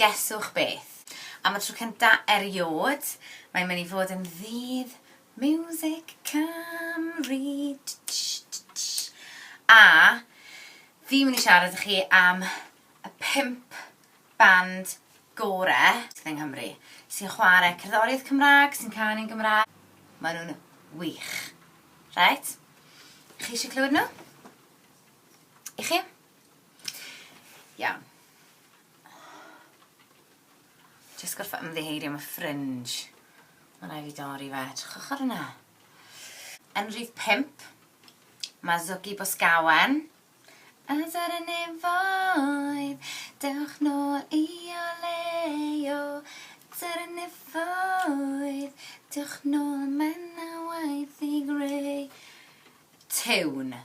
Gesswch beth? Am y tro cynta eriôd, mae'n mynd i fod yn ddydd miwsig Cymru! A fi'n mynd i siarad i chi am y pump band gore sydd yng Nghymru, sy'n chwarae cerddoriaeth Cymraeg, sy'n canu'n Gymraeg. Maen nhw'n wych. Reit? Chi eisiau clywed nhw? Y'ch chi? Iawn. Jyst gorfod ymddiheurio am y fringe. Mae'n rhaid fi dorri fe. Trwchwch ar hwnna. Yn rhif pimp, mae Zoggy Bosgawen. A dyr y nefoedd, dewch nôl i o leo. Dyr y nefoedd, dewch nôl, mae na waith i greu. Tune.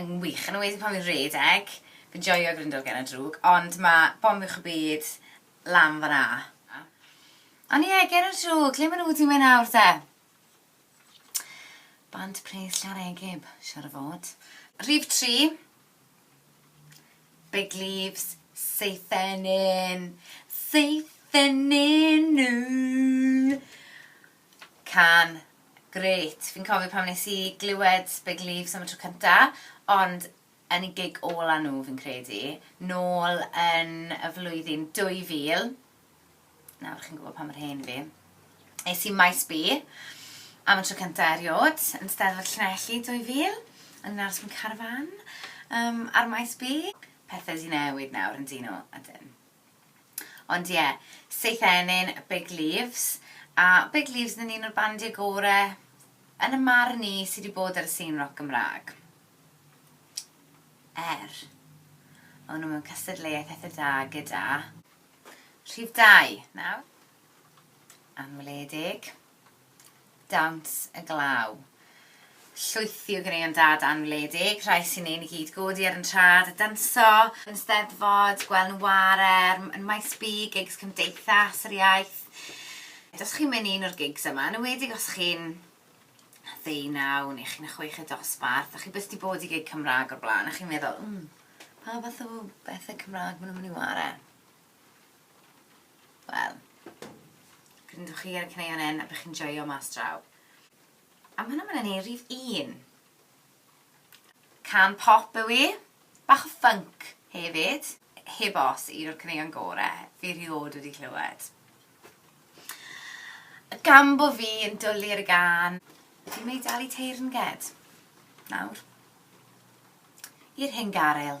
yn wych, yn enwedig pan fi'n rhedeg, fi'n joio Grindel Gen y Drwg, ond ma' Bomio Uwch y Byd lan fan'na. Ond ie, Gen y Drwg, lle ma' nhw wedi mynd nawr te? Bant Pres Llareggub, siŵr o fod. Rhif tri, Big Leaves, Seithenyn, Seithenyn! Cân grêt. Fi'n cofio pan wnes i glywed Big Leaves am y tro cynta, ond yn eu gig ola nhw fi'n credu, nôl yn y flwyddyn 2000, nawr chi'n gwybod pa mor hen fi, es i Maes B am y tro cynta eriod, yn Steddfod Llanelli 2000, o'n i'n aros mewn carafán ar Maes B. Pethau 'di newid nawr yn dŷ nhw, ydyn. Ond ie, Syth Ennyn, Big Leaves, a Big Leaves yn un o'r bandiau gore, yn y marn i, sy di bod ar y sîn roc Gymraeg. Er. O'n nhw mewn cystadleuaeth eitha da gyda. Rhif dau, nawr. Anweledig. Dawns y glaw. Llwythi o ganeuon dad anwledig, rhai sy'n ein i gyd godi ar yn trad a danso, yn steddfod, gweld nhw'n ware, yn Maes B, gigs Cymdeithas yr Iaith. Os chi'n mynd i un o'r gigs yma, yn enwedig os chi'n ddeunaw neu chi'n chwech y dosbarth a chi byth wedi bod i gig Cymraeg o'r blaen a chi'n meddwl, 'mm, pa fath o bethe Cymraeg maen nhw'n mynd i ware? Wel, gryndwch chi ar y caneuon hyn a bych chi'n joio mas draw. A mae hwnna mynd ni rhif un. Can pop yw i, bach o ffync hefyd, heb os un o'r caneuon gore fi rhiod wedi clywed. Gan bo fi yn dwlu ar y gan, fi'n mynd i dalu teyrnged nawr i'r hyn garyl.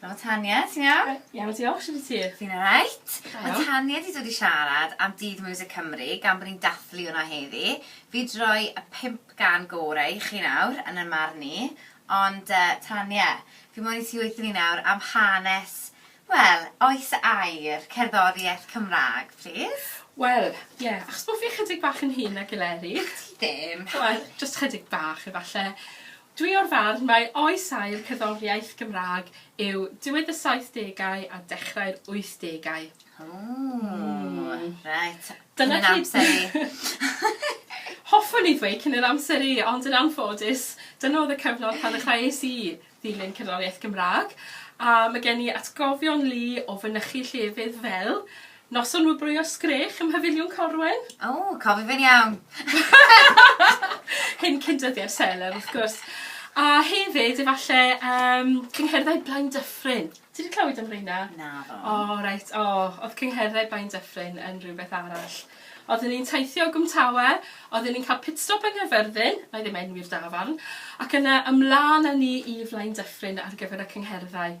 Helo Tania, ti'n iawn? Yy iawn diolch, shwt wyt ti? Fi'n alright. Da iawn. Ma' Tania 'di dod i siarad am Dydd Miwsig Cymru gan bo' ni'n dathlu hwnna heddi. Fi 'di roi y pump gân gore i chi nawr, yn 'y marn ni, ond yy Tania, fi moyn i ti weud i ni nawr am hanes, wel, oes y air, cerddorieth Cymrag, plîs? Wel, ie, achos bo' fi chydig bach yn hŷn nag Eleri. Ti ddim! Wel, jyst chydig bach efalle. Dwi o'r farn mai oes aur cerddoriaeth Gymraeg yw diwedd y saithdegau a dechrau'r wythdegau. Ww, reit. Cyn ein amser ni. Hoffwn i ddweud cyn yr amser i, ond yn anffodus, dyna oedd y cyfnod pan ddechreuais i ddilyn cerddoriaeth Gymraeg, a ma' gen i atgofion lu o fynychu llefydd fel Noson wobrwyo sgrech ym Mhafiliwn Corwen. O, cofi fe'n iawn. Hyn cyn dyddiau Seler, wrth gwrs. A hefyd, efallai, um, cyngherddau Blaen Dyffryn. Ti wedi clywed am reina? Na, ddo. O, oh, reit, o, oh, oedd cyngherddau Blaen Dyffryn yn rhywbeth arall. Oedden ni'n teithio o Gwmtawe, oedden ni'n cael pitstop yng Nghyfyrddin, na i ddim enwi'r dafarn, ac yna ymlaen â ni i Flaen Dyffryn ar gyfer y cyngherddau.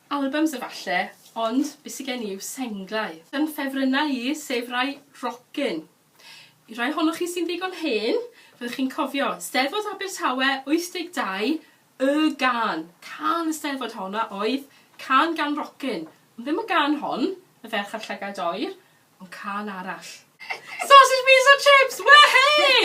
Albums efalle, ond be sy gen i yw senglau. Fy ffefrynnau i, sef rai rockin'. I rai ohonoch chi sy'n ddigon hen, fyddwch chi'n cofio, Steddfod Abertawe 82, y gân, cân y Steddfod hon a oedd cân gan rockin', ond ddim y gân hon, y ferch a'r llygaid oer, o cân arall. Sausage Beans and Chips! Wehey!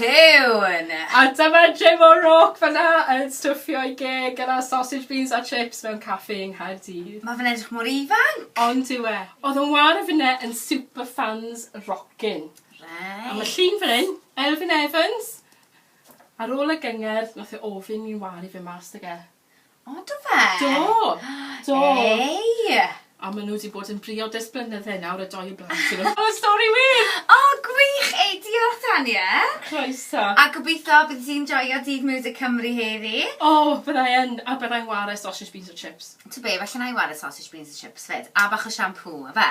Tune! A dyma Jim O'Rourke fanna yn stwffio'i geg gyda sausage beans a chips mewn caffi yng Nghaerdydd. Ma fe'n edrych mor ifanc! Ond yw e? Odd yn wâr o finne yn super fans rockin. Reit. A ma llun fan hyn, Elfyn Evans, ar ôl y gyngerdd nath e ofyn i'n wâr i fyn mas 'da e. O do fe? Do! Do. Hei! A ma' n'w 'di bod yn briod ers blynydde nawr y dou o blant i n'w. O stori wir! O gwych! Hei diolch Tania. Croeso. A gobitho byddi di'n joio dydd Music Cymru heddi. O byddai yn a byddai'n ware sausage beans a chips. T'o be' falle 'nai ware sausage beans a chips 'fyd a bach o siampŵ yfe?